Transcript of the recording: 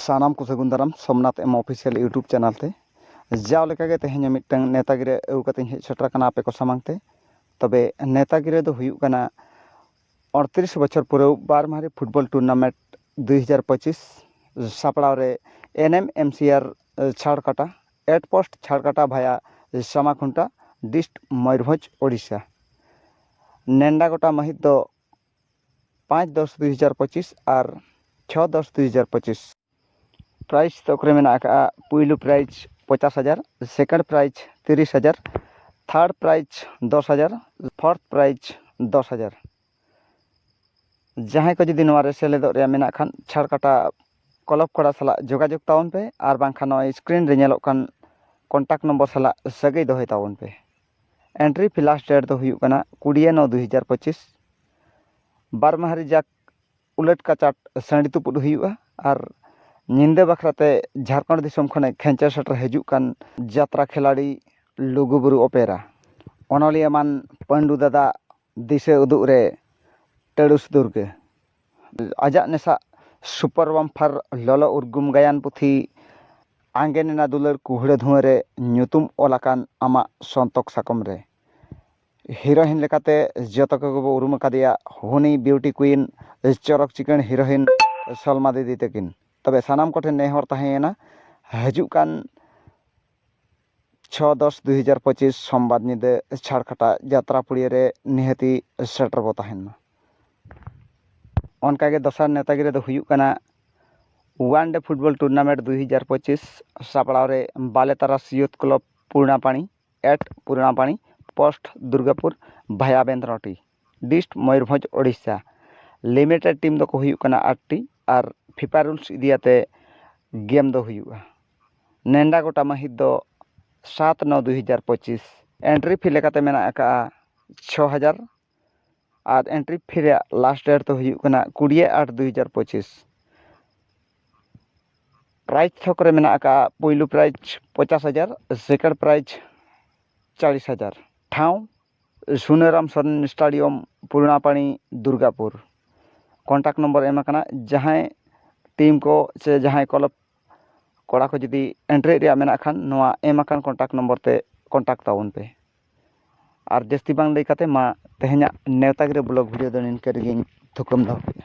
ᱥᱟᱱᱟᱢ ᱠᱚ ᱥᱟᱹᱜᱩᱱ ᱫᱟᱨᱟᱢ Somnath M official YouTube channel ᱛᱮ ᱡᱟᱣ ᱞᱮᱠᱟᱜᱮ ᱛᱮᱦᱮᱧ ᱢᱤᱫᱴᱟᱝ ᱱᱮᱛᱟ ᱜᱤᱨᱟᱹ ᱟᱹᱜᱩ ᱠᱟᱛᱮᱧ ᱦᱮᱡ ᱥᱮᱴᱮᱨ ᱟᱠᱟᱱᱟ ᱟᱯᱮ ᱠᱚ ᱥᱟᱢᱟᱝ ᱛᱮ ᱛᱚᱵᱮ ᱱᱮᱛᱟ ᱜᱤᱨᱟᱹ ᱫᱚ ᱦᱩᱭᱩᱜ ᱠᱟᱱᱟ ᱟᱴᱛᱨᱤᱥ ᱵᱚᱪᱷᱚᱨ ᱯᱩᱨᱟᱹᱣ ᱵᱟᱨ ᱢᱟᱦᱟᱨᱤ ᱯᱷᱩᱴᱵᱚᱞ ᱴᱩᱨᱱᱟᱢᱮᱱᱴ ᱫᱩᱭ ᱦᱟᱡᱟᱨ ᱯᱚᱸᱪᱤᱥ ᱥᱟᱯᱲᱟᱣ ᱨᱮ ᱮᱱ ᱮᱢ ᱮᱢ ᱥᱤ ᱟᱨ ᱪᱷᱟᱲ ᱠᱟᱴᱟ ᱮᱴ ᱯᱳᱥᱴ ᱪᱷᱟᱲ ᱠᱟᱴᱟ ᱵᱷᱟᱭᱟ ᱥᱟᱢᱟ ᱠᱷᱩᱱᱴᱟ ᱰᱤᱥᱴ ᱢᱚᱭᱩᱨᱵᱷᱚᱸᱡᱽ ᱳᱰᱤᱥᱟ ᱱᱮᱰᱟ ᱜᱚᱴᱟ ᱢᱟᱹᱦᱤᱛ ᱫᱚ ᱯᱟᱸᱪ ᱫᱚᱥ ᱫᱩᱭ ᱦᱟᱡᱟᱨ ᱯᱚᱸᱪᱤᱥ ᱟᱨ ᱪᱷᱚ ᱫᱚᱥ ᱫᱩᱭ ᱦᱟᱡᱟᱨ ᱯᱚᱸᱪᱤᱥ ᱯᱨᱟᱭᱤᱡᱽ ᱛᱷᱚᱠ ᱨᱮ ᱢᱮᱱᱟᱜ ᱟᱠᱟᱫᱼᱟ ᱯᱩᱭᱞᱩ ᱯᱨᱟᱭᱤᱡᱽ ᱯᱚᱪᱟᱥ ᱦᱟᱡᱟᱨ ᱥᱮᱠᱮᱱᱰ ᱯᱨᱟᱭᱤᱡᱽ ᱛᱤᱨᱤᱥ ᱦᱟᱡᱟᱨ ᱛᱷᱟᱨᱰ ᱯᱨᱟᱭᱤᱡᱽ ᱫᱚᱥ ᱦᱟᱡᱟᱨ ᱯᱷᱳᱨᱛᱷ ᱯᱨᱟᱭᱤᱡᱽ ᱫᱚᱥ ᱦᱟᱡᱟᱨ ᱡᱟᱦᱟᱸᱭ ᱠᱚ ᱡᱩᱫᱤ ᱱᱚᱣᱟ ᱨᱮ ᱥᱮᱞᱮᱫᱚᱜ ᱨᱮᱭᱟᱜ ᱢᱮᱱᱟᱜ ᱠᱷᱟᱱ ᱪᱷᱟᱲ ᱠᱟᱴᱟ ᱠᱞᱟᱵᱽ ᱠᱚᱲᱟ ᱥᱟᱞᱟᱜ ᱡᱳᱜᱟᱡᱳᱜᱽ ᱛᱟᱵᱚᱱ ᱯᱮ ᱟᱨ ᱵᱟᱝᱠᱷᱟᱱ ᱱᱚᱜᱼᱚᱭ ᱥᱠᱨᱤᱱ ᱨᱮ ᱧᱮᱞᱚᱜ ᱠᱟᱱ ᱠᱚᱱᱴᱟᱠᱴ ᱱᱚᱢᱵᱚᱨ ᱥᱟᱞᱟᱜ ᱥᱟᱹᱜᱟᱹᱭ ᱫᱚᱦᱚᱭ ᱛᱟᱵᱚᱱ ᱯᱮ ᱮᱱᱴᱨᱤ ᱯᱷᱤ ᱞᱟᱥᱴ ᱰᱮᱴ ᱫᱚ ᱦᱩᱭᱩᱜ ᱠᱟᱱᱟ ᱠᱩᱲᱤ ᱱᱚ ᱫᱩ ᱦᱟᱡᱟᱨ ᱯᱚᱸᱪᱤᱥ ᱵᱟᱨ ᱢᱟᱦᱟ ᱨᱮᱡᱟᱜᱽ ᱩᱞᱟᱹᱴ ᱠᱟᱪᱟᱴ ᱥᱟᱺᱰᱤ ᱛᱩᱯᱩᱫ ᱦᱩᱭᱩᱜᱼᱟ ᱟᱨ ᱧᱤᱫᱟᱹ ᱵᱟᱠᱷᱨᱟ ᱛᱮ ᱡᱷᱟᱲᱠᱷᱚᱸᱰ ᱫᱤᱥᱚᱢ ᱠᱷᱚᱱᱮ ᱠᱷᱮᱸᱪᱮᱨ ᱥᱮᱴᱮᱨ ᱦᱤᱡᱩᱜ ᱠᱟᱱ ᱡᱟᱛᱨᱟ ᱠᱷᱮᱞᱟᱲᱤ ᱞᱩᱜᱩ ᱵᱩᱨᱩ ᱚᱯᱮᱨᱟ ᱚᱱᱚᱞᱤᱭᱟᱹ ᱮᱢᱟᱱ ᱯᱟᱹᱰᱩ ᱫᱟᱫᱟ ᱫᱤᱥᱟᱹ ᱩᱫᱩᱜ ᱨᱮ ᱴᱟᱹᱲᱩᱥ ᱫᱩᱨᱜᱟᱹ ᱟᱡᱟᱜ ᱱᱮᱥᱟᱜ ᱥᱩᱯᱟᱨ ᱵᱟᱢᱯᱷᱟᱨ ᱞᱚᱞᱚ ᱩᱨᱜᱩᱢ ᱜᱟᱭᱟᱱ ᱯᱩᱛᱷᱤ ᱟᱸᱜᱮᱱ ᱮᱱᱟ ᱫᱩᱞᱟᱹᱲ ᱠᱩᱦᱲᱟᱹ ᱫᱷᱩᱣᱟᱹ ᱨᱮ ᱧᱩᱛᱩᱢ ᱚᱞ ᱟᱠᱟᱱ ᱟᱢᱟᱜ ᱥᱚᱱᱛᱚᱠ ᱥᱟᱠᱚᱢ ᱨᱮ ᱦᱤᱨᱳᱭᱤᱱ ᱞᱮᱠᱟᱛᱮ ᱡᱚᱛᱚ ᱠᱚᱜᱮ ᱵᱚᱱ ᱩᱨᱩᱢ ᱟᱠᱟᱫᱮᱭᱟ ᱦᱩᱱᱤ ᱵᱤᱭᱩᱴᱤ ᱠᱩᱭᱤᱱ ᱪᱚᱨᱚᱠ ᱪᱤᱠᱟᱹᱲ ᱦᱤᱨᱳᱭᱤᱱ ᱥᱚᱞᱢᱟ ᱫᱤᱫᱤ ᱛᱟᱹᱠᱤᱱ ᱛᱚᱵᱮ ᱥᱟᱱᱟᱢ ᱠᱚᱴᱷᱮᱱ ᱱᱮᱦᱚᱨ ᱛᱟᱦᱮᱸᱭᱮᱱᱟ ᱦᱤᱡᱩᱜ ᱠᱟᱱ ᱪᱷᱚ ᱫᱚᱥ ᱫᱩᱭ ᱦᱟᱡᱟᱨ ᱯᱚᱸᱪᱤᱥ ᱥᱚᱢᱵᱟᱨ ᱧᱤᱫᱟᱹ ᱪᱷᱟᱲᱠᱷᱟᱴᱟ ᱡᱟᱛᱨᱟ ᱯᱩᱲᱤᱭᱟᱹ ᱨᱮ ᱱᱤᱦᱟᱹᱛᱤ ᱥᱮᱴᱮᱨ ᱵᱚ ᱛᱟᱦᱮᱱ ᱢᱟ ᱚᱱᱠᱟᱜᱮ ᱫᱚᱥᱟᱨ ᱱᱮᱶᱛᱟ ᱜᱤᱨᱟᱹ ᱫᱚ ᱦᱩᱭᱩᱜ ᱠᱟᱱᱟ ᱚᱣᱟᱱ ᱰᱮ ᱯᱷᱩᱴᱵᱚᱞ ᱴᱩᱨᱱᱟᱢᱮᱱᱴ ᱫᱩᱭ ᱦᱟᱡᱟᱨ ᱯᱚᱸᱪᱤᱥ ᱥᱟᱯᱲᱟᱣ ᱨᱮ Bale Taras youth club Purnapari at Purnapari post Durgapur via Bendroti dist Mayurbhanj Odisha limited team ᱫᱚᱠᱚ ᱦᱩᱭᱩᱜ ᱠᱟᱱᱟ at T R FIFA rules ᱤᱫᱤ ᱠᱟᱛᱮᱫ ᱜᱮᱢ ᱫᱚ ᱦᱩᱭᱩᱜᱼᱟ ᱱᱮᱰᱟ ᱜᱚᱴᱟ ᱢᱟᱹᱦᱤᱛ ᱫᱚ ᱥᱟᱛ ᱱᱚ ᱫᱩ ᱦᱟᱡᱟᱨ ᱯᱚᱸᱪᱤᱥ ᱮᱱᱴᱨᱤ ᱯᱷᱤ ᱞᱮᱠᱟᱛᱮ ᱢᱮᱱᱟᱜ ᱟᱠᱟᱫᱼᱟ ᱪᱷᱚ ᱦᱟᱡᱟᱨ ᱟᱨ ᱮᱱᱴᱨᱤ ᱯᱷᱤ ᱨᱮᱭᱟᱜ ᱞᱟᱥᱴ ᱰᱮᱴ ᱫᱚ ᱦᱩᱭᱩᱜ ᱠᱟᱱᱟ ᱠᱩᱲᱤ ᱟᱴ ᱫᱩ ᱦᱟᱡᱟᱨ ᱯᱚᱸᱪᱤᱥ ᱯᱨᱟᱭᱤᱡᱽ ᱛᱷᱚᱠ ᱨᱮ ᱢᱮᱱᱟᱜ ᱟᱠᱟᱫᱼᱟ ᱯᱳᱭᱞᱳ ᱯᱨᱟᱭᱤᱡᱽ ᱯᱚᱧᱪᱟᱥ ᱦᱟᱡᱟᱨ ᱥᱮᱠᱮᱱᱰ ᱯᱨᱟᱭᱤᱡᱽ ᱪᱚᱞᱞᱤᱥ ᱦᱟᱡᱟᱨ ᱴᱷᱟᱶ Sunaram Soren stadium Purnapari Durgapur contact number ᱮᱢ ᱟᱠᱟᱱᱟ ᱡᱟᱦᱟᱸᱭ ᱴᱤᱢ ᱠᱚ ᱥᱮ ᱡᱟᱦᱟᱸᱭ ᱠᱞᱟᱵᱽ ᱠᱚᱲᱟ ᱠᱚ ᱡᱩᱫᱤ ᱮᱱᱴᱨᱤᱜ ᱨᱮᱭᱟᱜ ᱢᱮᱱᱟᱜ ᱠᱷᱟᱱ ᱱᱚᱣᱟ ᱮᱢ ᱟᱠᱟᱱ ᱠᱚᱱᱴᱟᱠᱴ ᱱᱚᱢᱵᱚᱨ ᱛᱮ ᱠᱚᱱᱴᱟᱠᱴ ᱛᱟᱵᱚᱱ ᱯᱮ ᱟᱨ ᱡᱟᱹᱥᱛᱤ ᱵᱟᱝ ᱞᱟᱹᱭ ᱠᱟᱛᱮᱫ ᱢᱟ ᱛᱮᱦᱮᱧᱟᱜ ᱱᱮᱶᱛᱟ ᱜᱤᱨᱟᱹ ᱵᱞᱚᱜᱽ ᱵᱷᱤᱰᱤᱭᱳ ᱫᱚ ᱱᱤᱝᱠᱟᱹ ᱨᱮᱜᱮᱧ ᱛᱷᱩᱠᱟᱹᱢ ᱫᱚᱦᱚ ᱠᱮᱫᱟ